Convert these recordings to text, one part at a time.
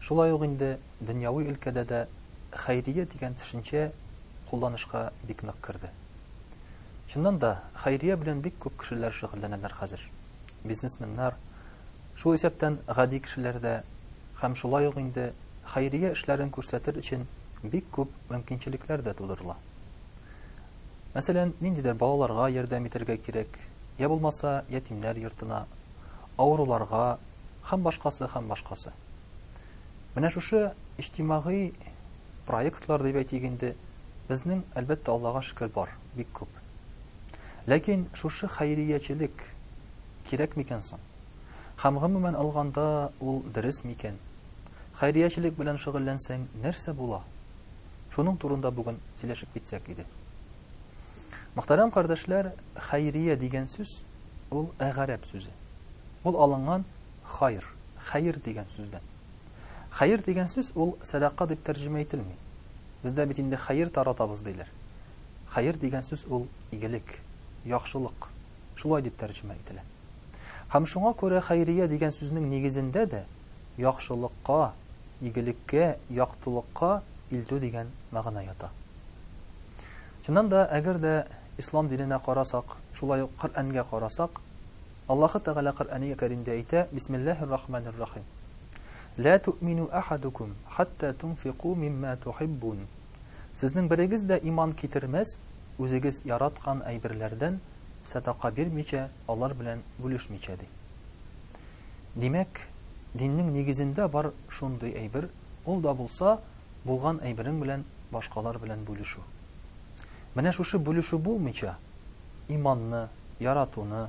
Шулай ук инде дөньяви өлкәдә дә хәйрия дигән төшенчә кулланышка бик нык керде. Чыннан да, хәйрия белән бик күп кешеләр шөгыльләнәләр хәзер. Бизнесменнар, шул исәптән гади кешеләр дә һәм шулай ук инде хәйрия эшләрен күрсәтер өчен бик күп мөмкинчелекләр дә тудырыла. Мәсәлән, ниндидер балаларга ярдәм итәргә кирәк, йә булмаса ятимнәр йортына, авыруларга һәм башкасы һәм башкасы. Менә шушы иҗтимагый проектлар дип әйтик инде, безнең әлбәттә Аллага шөкер бар, бик күп. Ләкин шушы хәйриячелек кирәк микән соң? Һәм гомумән алганда ул дөрес микән? Хәйриячелек белән шөгыльләнсәң, нәрсә була? Шуның турында бүген сөйләшеп китсәк иде. Мөхтәрәм кардәшләр, хәйрия дигән сүз ул әгарәп сүзе. Ул алынган хайр, хәер дигән сүздән. Хәер дигән сүз ул сәдака дип тәрҗемә ителми. Бездә бит инде хәер таратабыз диләр. Хәер дигән сүз ул игелек, яхшылык. Шулай дип тәрҗемә ителә. Һәм шуңа күрә хәйрия дигән сүзнең нигезендә дә яхшылыкка, игелеккә, яктылыкка илтү дигән мәгънә ята. Чыннан да, әгәр дә ислам диненә карасак, шулай ук Коръәнгә карасак, Аллаһы Тәгалә Коръәни Кәримдә әйтә, Бисмиллаһир Рахманир Рахим. Лә туъмину ахадукум хатта тунфику мимма тухиббун. Сезнең берегез дә иман китермәс, үзегез яраткан әйберләрдән сәдака бирмичә, алар белән бүлешмичә, ди. Димәк, диннең нигезендә бар шундый әйбер, ул да булса, булган әйберең белән башкалар белән бүлешү. Менә шушы бүлешү булмыйча, иманны, яратуны,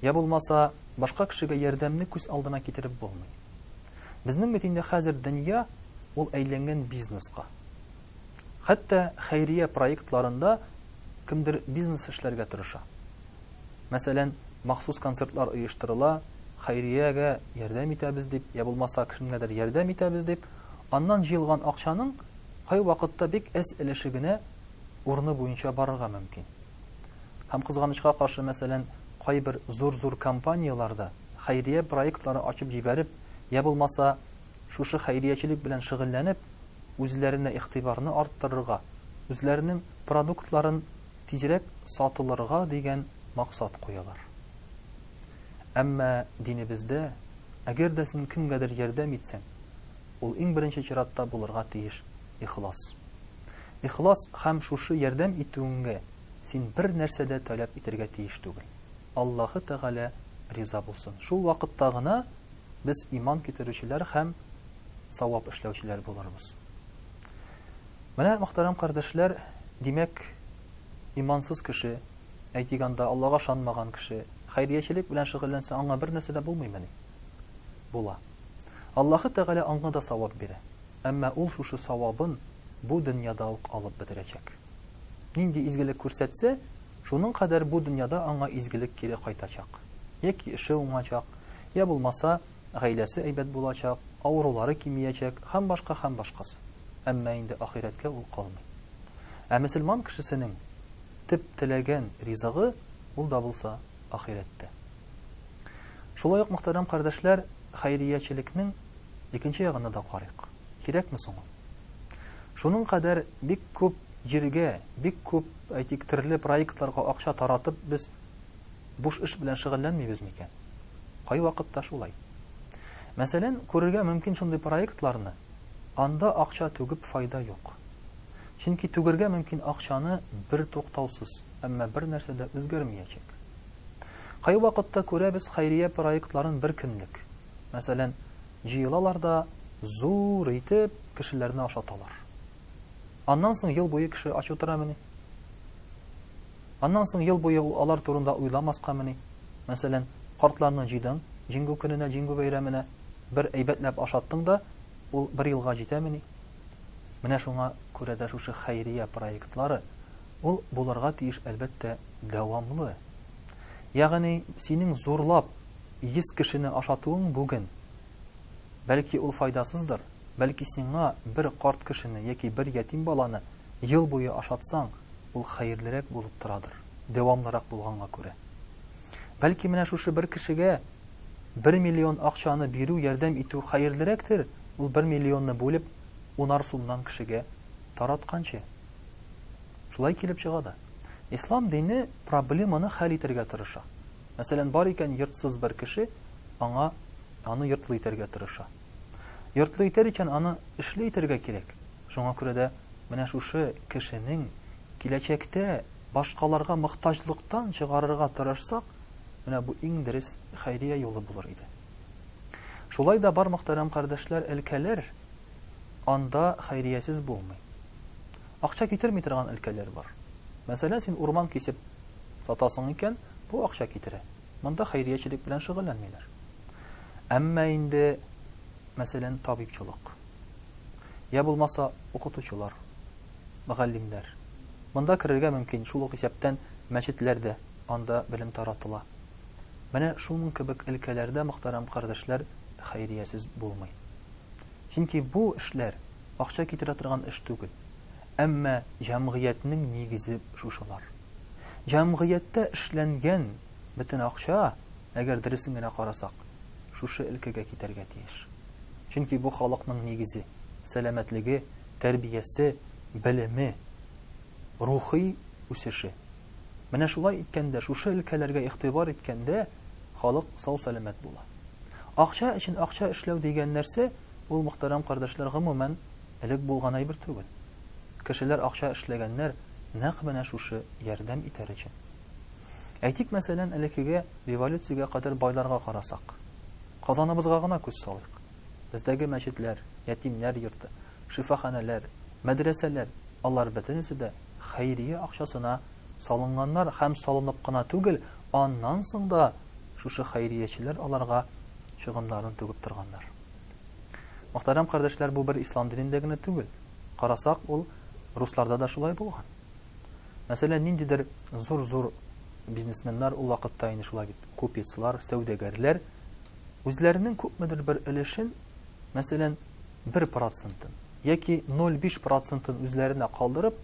йә булмаса, башка кешегә ярдәмне күз алдына китереп булмый. Безнең бит инде хәзер дөнья, ул әйләнгән бизнеска. Хәтта хәйрия проектларында кемдер бизнес эшләргә тырыша. Мәсәлән, махсус концертлар оештырыла, хәйриягә ярдәм итәбез дип, йә булмаса кемгәдер ярдәм итәбез дип, аннан җыелган акчаның кайвакытта бик әз өлеше генә урыны буенча барырга мөмкин. Һәм кызганычка каршы, мәсәлән, кайбер зур-зур компанияләр дә хәйрия проектлары ачып җибәреп, йә булмаса шушы хәйриячелек белән шөгыльләнеп, үзләренә игътибарны арттырырга, үзләренең продуктларын тизрәк сатылырга дигән максат куялар. Әмма динебездә, әгәр дә син кемгәдер ярдәм итсәң, ул иң беренче чиратта булырга тиеш ихлас. Ихлас һәм шушы ярдәм итүеңгә син бер нәрсә дә таләп итергә тиеш түгел. Аллаһы Тәгалә риза булсын. Шул вакытта гына без иман китерүчеләр һәм савап эшләүчеләр булырбыз. Менә, мөхтәрәм кардәшләр, димәк, имансыз кеше, әйтик анда Аллага ышанмаган кеше, хәйриячелек белән шөгыльләнсә, аңа бер нәрсә дә булмыймыни? Була. Аллаһы Тәгалә аңа да савап бирә. Әмма ул шушы савабын бу дөньяда ук алып бетерәчәк. нинди изгелек күрсәтсә, шуның кадәр бу дөньяда аңа изгелек кире кайтачак. Яки эше уңачак, я булмаса, гаиләсе әйбәт булачак, авырулары кимиячәк һәм башка һәм башкасы. Әмма инде ахирәткә ул калмый. Ә мөселман кешесенең төп теләген, ризыгы, ул да булса ахирәттә. Шулай ук, мөхтәрәм кардәшләр, хәйриячелекнең икенче ягына да карыйк. Кирәкме соң ул? Шуның кадәр бик күп җиргә, бик күп, әйтик, төрле проектларга акча таратып, без буш эш белән шөгыльләнмибез микән? Кайвакытта шулай. Мәсәлән, күрергә мөмкин шундый проектларны, анда акча түгеп файда юк. Чөнки түгергә мөмкин акчаны бертуктаусыз, әмма бернәрсә дә үзгәрмиячәк. Кайвакытта күрәбез хәйрия проектларын бер көнлек. Мәсәлән, җыелалар да зур итеп кешеләрне ашаталар. Аннан соң ел буе кеше ач утырамыни? Аннан соң ел буе ул алар турында уйламаскамыни? Мәсәлән, картларны җыйдың, Җиңгү көненә, Җиңгү бәйрәменә бер әйбәтләп ашаттың да, ул бер елга җитәмени? Менә шуңа күрә дә шушы хәйрия проектлары, ул булырга тиеш, әлбәттә, дәвамлы. Ягъни, синең зурлап Йөз кешене ашатуың бүген. Бәлки ул файдасыздыр, бәлки сиңа бер карт кешене яки бер ятим баланы ел буе ашатсаң, ул хәерлерәк булып торадыр, дәвамлырак булганга күрә. Бәлки менә шушы бер кешегә бер миллион акчаны бирү, ярдәм итү хәерлерәктер, ул бер миллионны бүлеп, унар сумнан кешегә таратканчы. Шулай килеп чыга да. Ислам дине проблеманы хәл итәргә тырыша. Мәсәлән, бар икән йортсыз бер кеше, аңа аны йортлы итәргә тырыша. Йортлы итәр икән, аны эшле итәргә кирәк. Шуңа күрә дә менә шушы кешенең киләчәктә башкаларга мохтаҗлыктан чыгарырга тырышсак, менә бу иң дөрес хәйрия юлы булыр иде. Шулай да бар мөхтәрәм кардәшләр, өлкәләр, анда хәйриясез булмый. Акча китерми торган өлкәләр бар. Мәсәлән, син урман кисеп сатасың икән, Бу акча китерә. Монда хәйриячелек белән шөгыльләнмиләр. Әмма инде, мәсәлән, табибчылык, йә булмаса укытучылар, мөгаллимнәр, монда керергә мөмкин, шул ук исәптән мәчетләр дә, анда белем таратыла. Менә шуның кебек өлкәләрдә, мөхтәрәм кардәшләр, хәйриясез булмый. Чөнки бу эшләр акча китерә торган эш түгел. Әмма җәмгыятьнең нигезе шушылар. Җәмгыятьтә эшләнгән бөтен акча, әгәр дөресен генә карасак, шушы өлкәгә китәргә тиеш. Чөнки бу халыкның нигезе, сәламәтлеге, тәрбиясе, белеме, рухи үсеше. Менә шулай иткәндә, шушы өлкәләргә игътибар иткәндә, халык сау-сәламәт була. Акча өчен акча эшләү дигән нәрсә, ул, мөхтәрәм кардәшләр, гомумән, элек булган әйбер түгел. кешеләр акча эшләгәннәр нәкъ менә шушы ярдәм итәр өчен. Әйтик, мәсәлән, элеккеге революциягә кадәр байларга карасак. Казаныбызга гына күз салыйк. Бездәге мәчетләр, ятимнәр йорты, шифаханәләр, мәдрәсәләр, алар бөтенесе дә хәйрия акчасына салынганнар һәм салынып кына түгел, аннан соң да шушы хәйриячеләр аларга чыгымнарын түгеп торганнар. Мөхтәрәм кардәшләр, бу бер ислам динендә генә түгел. карасак, ул русларда да шулай булган. Мәсәлән, ниндидер зур-зур бизнесменнар ул вакытта инде шулай бит, купецлар, сәүдәгәрләр үзләренең күпмедер бер өлешен, мәсәлән, 1 процентын яки 0,5 процентын үзләренә калдырып,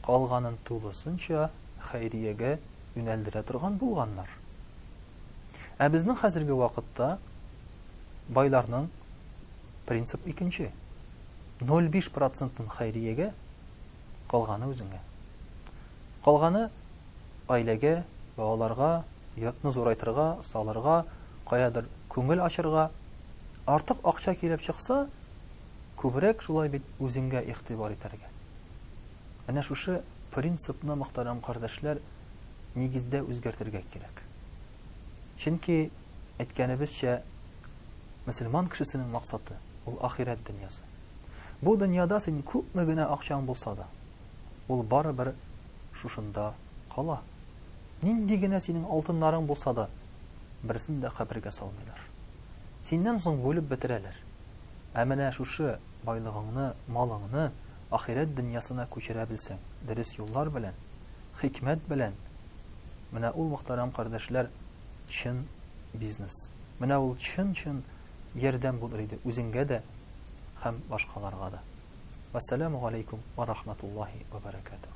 калганын тулысынча хәйриягә юнәлдерә торган булганнар. Ә безнең хәзерге вакытта байларның принцип икенче. Ноль биш процентын хәйриягә, калганы үзеңә. Калганы гаиләгә, балаларга, йортны зурайтырга, салырга, каядыр күңел ачырга. Артык акча килеп чыкса, күбрәк шулай бит үзеңгә игътибар итәргә. Менә шушы принципны, мөхтәрәм кардәшләр, нигездә үзгәртергә кирәк. Чөнки, әйткәнебезчә, мөселман кешесенең максаты, ул ахирәт дөньясы. Бу дөньяда син күпме генә акчаң булса да, ул барыбер шушында кала. Нинди генә синең алтыннарың булса да, берсен дә кабергә салмыйлар. Синнән соң бүлеп бетерәләр. Ә менә шушы байлыгыңны, малыңны ахирәт дөньясына күчерә белсәң, дөрес юллар белән, хикмәт белән, менә ул, мөхтәрәм кардәшләр, чын бизнес. Менә ул чын-чын ярдәм булыр иде үзеңгә дә һәм башкаларга да. Вәссәламү галәйкүм вә рахмәтуллаһи вә бәрәкәтүһ.